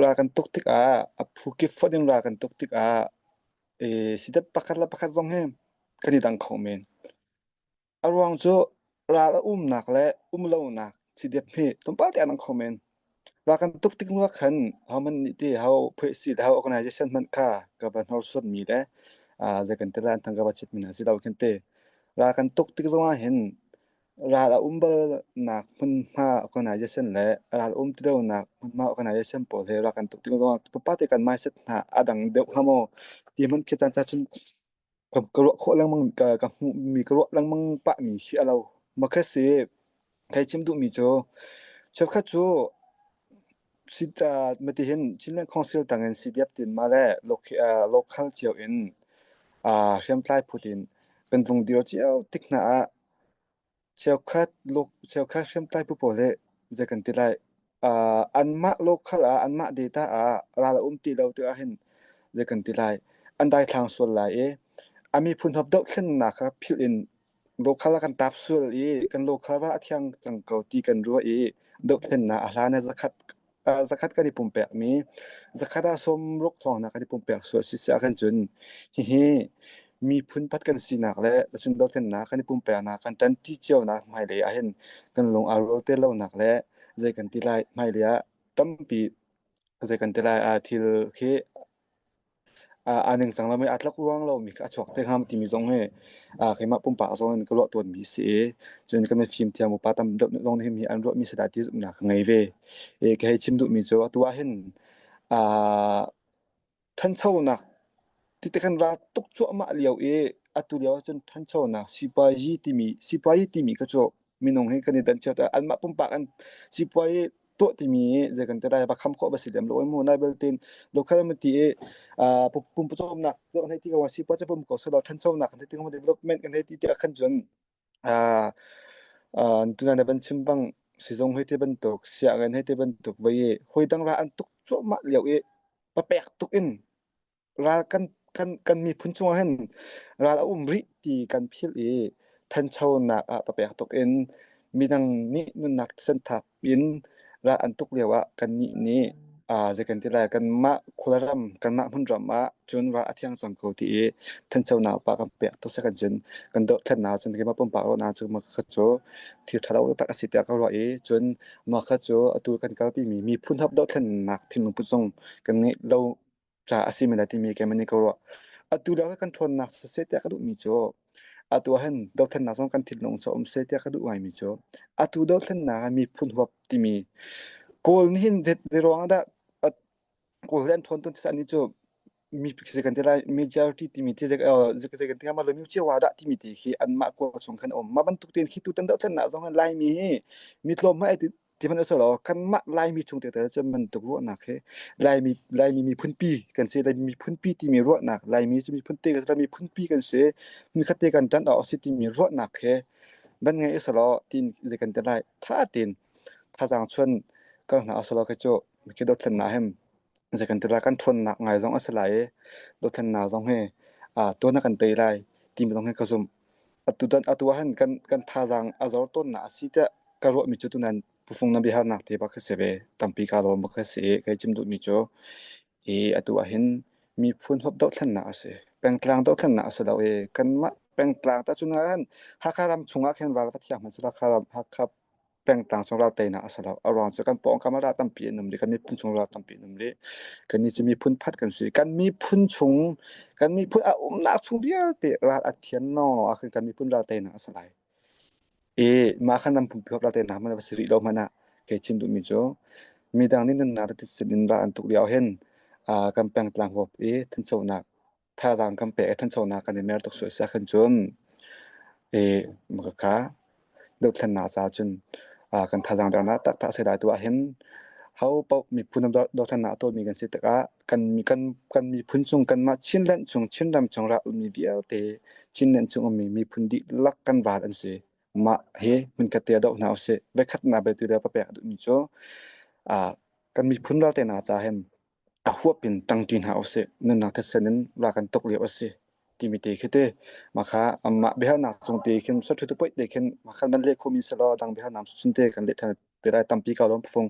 Ra kan tuk tikah a phu kip fonh in ra kan tuk tikah i sidep pakhat le pakhat zong hi kan i dang kho men. A ruang cu ra a umnak le um lonak sidep hi tlawmpal te a dang kho men. Ra kan tuk tik ruah khan homan nih ti ho phoihsi le ho organization hmanh kha ka va hnorsuanmi le ah zeikan tilah an thang ka va citmi hna si lo kan ti. Ra kan tuk tik zongah hin Ral a um balnak hmunhma organization le ral um ti lonak hmunhma organization pawl hi rak kan tuk ding ruangah pate kan mindset hna a dang deuh hnga maw? Ti hman khi caan cacun ka, ka ruah khawh lengmang, ka, ka hmuhmi, ka ruah lengmang pahmi khi a lo. Makhe si, kai chim duhmi cu, cheukhat cu si ta matihin Chinland Council tangin CDF tin ma le local cio in uh, hriamtlai phut in kan vung dir cio tik hna ah Cheukhat cheukhat hriamtlai phu pawl nih zei kan ti lai, aa anmah local ah anmah data ah ral a um ti lo ti ahhin zei kan ti lai, an daithlang sual lai i a miphun huap dohthlennak kha philh in local ah kan taap sual i kan local ral a thiang cang ko ti kan ruah i dohthlennak a hlan ah zakhat zakhat kan i pumpekmi zakhat ah sawmruk thawngnak kan i pumpek sual a si siah kan cun hihi miphun pat kan sinak le lucung dohthlennak kan i pumpeknak kan tanti cionak hmailei ahhin kan lung aa rual te lonak le zei kan ti lai hmailei ah tampi zei kan ti lai ah thil khi aa ningcang lomi aa tlakruang lomi kha a chuak te hnga timi zong hi keimah pumpak zong in ka ruah tawnmi a si i cun kan i fimthiam upa tam deuh nih zong hihi an ruahmi si dah ti zumhnak ka ngei ve. Ka hei chim duhmi cu atu ahhin ṭhanchonak ti te kan ra tuk cuahmah lio i atu lio ahcun ṭhanchonak sipuazi timi sipuazi timi kha cu minung hi kan i dan chiat ah anmah pumpak an sipuai tuah timi zei kan tadai ba kham khawh ba si lem lo mu na beltin local ma ti e pum pum nak hlei ti ka sipuai cha pum ko so lo than chau nak kan ti ko development kan ti ti kan jun tuna na ban chimbang sizong hei te ban tuk sia gan hei te ban tuk vai hoi dang ra an tuk cho ma liu e papek tuk in ral kan kan kan miphun cungah hin ral a um rih ti kan philh i thanchonak ah papek tuk in midang nih nunnak san thap in ral an tuk lio ah kan nih nih zekan ti lai kan mah khula ram kan mah hmun ram ah cun ra a thiang cang ko ti i thancho na pa kan pek to sekan cun kan do than na cun ke ma pumpa ro na cu ma khat chu thi thalo tak asi ta ka ro i cun ma kha chu atu kan kalpi mi mi phun hap do than nak thinlung pu song kan nge lo ca a si men lai timi keimah nih ka ruah. Atu lio kan ṭhawnnak seseh tiah ka duhmi cu atu ahhin dothlennak zong kan thinlung cu a um seh tiah ka duh ngaimi cu atu dothlennak ah miphun huap timi Kawl nih hin zei zei ruangah dah a- Kawl he an ṭhawn tawn ti sah ni cu mi zei kan ti lai majority timi ti zei kan ti hnga ma lo Myocewa dah timi ti khi anmah kua chung khan a um. Mah bantuk tein khi tutan dothlennak zong in Laimi hi mi tlawm hmanh ai Tihmanh usih law kanmah Laimi chung te tal cun bantuk ruahnak hi Laimi Laimi miphunpi kan si. Laimi miphunpi timi ruahnak Laimi cu miphun te kan si. Miphunpi kan si. Hmunkhat te kan ṭan awk a si timi ruahnak he van ngai usih law tin le kan ti lai. Ṭha tein thazaang chuan kal hna usih law kei cu kei dothlennak hem zei kan ti lai. Kan ṭhawnnak ngai zong a si lai i dothlennak zong hi tuan a kan tei lai timi zong hi ka zumh. Tutan atu ahhin kan thazaang a zor tawnnak a si tiah ka ruahmi cu tunan pufung na biahalnak te bak kha si ve. Tampi kaa lawm bak kha si i kai cim duhmi cu hi atu ahhin miphun huap dohthlennak a si. Pengtlang dohthlennak a si lo i kanmah pengtlang tahcun ahhin Hakha ram chungah khin ral va thiang hmanh seh la Hakha ram Hakha pengtang chung ral teinak a si lo a ruang cu kan pawng kam ral tampi an um rih kan miphun chung ral tampi an um rih kan nih cu miphun phat kan si kan miphun chung kan miphun a umnak chung vialte ral a thian no ah kan miphun ral teinak a si lai e mah kan ram pumpi hop ral teinak man va si rih lo hmana ke chim duhmi cu midang nih nunnak le titsin in ra an tuk lio hin kan pengtlang hop i thanchonak thazaang kan pek i thanchonak kan i mer tuk sual siah khin cun i maka kha dothlennak caah cun kan thazaang dernak taktak a si lai tu ahhin ho paoh miphun dothlennak a tawlmi kan si tikah kan kan kan miphun cung kanmah Chinland cung Chinram cung ra ummi vialte Chinland cung ummi miphun dihlak kan val an si mah hi hmunkhat tia doh hna usih vekhatnak betu le papek a duhmi cu kan miphun ralte hna ca hin a huap in ṭang ṭi hna usih, nunnak thetse in ra kan tuk lio a si timi te khi te. Mah amah biahalnak cung te khin saṭhuttu poih te khin mah kha nan leh khomi selaw dang biahalnak cung te kan leh ṭhan te lai tampi ko lo an phu fung.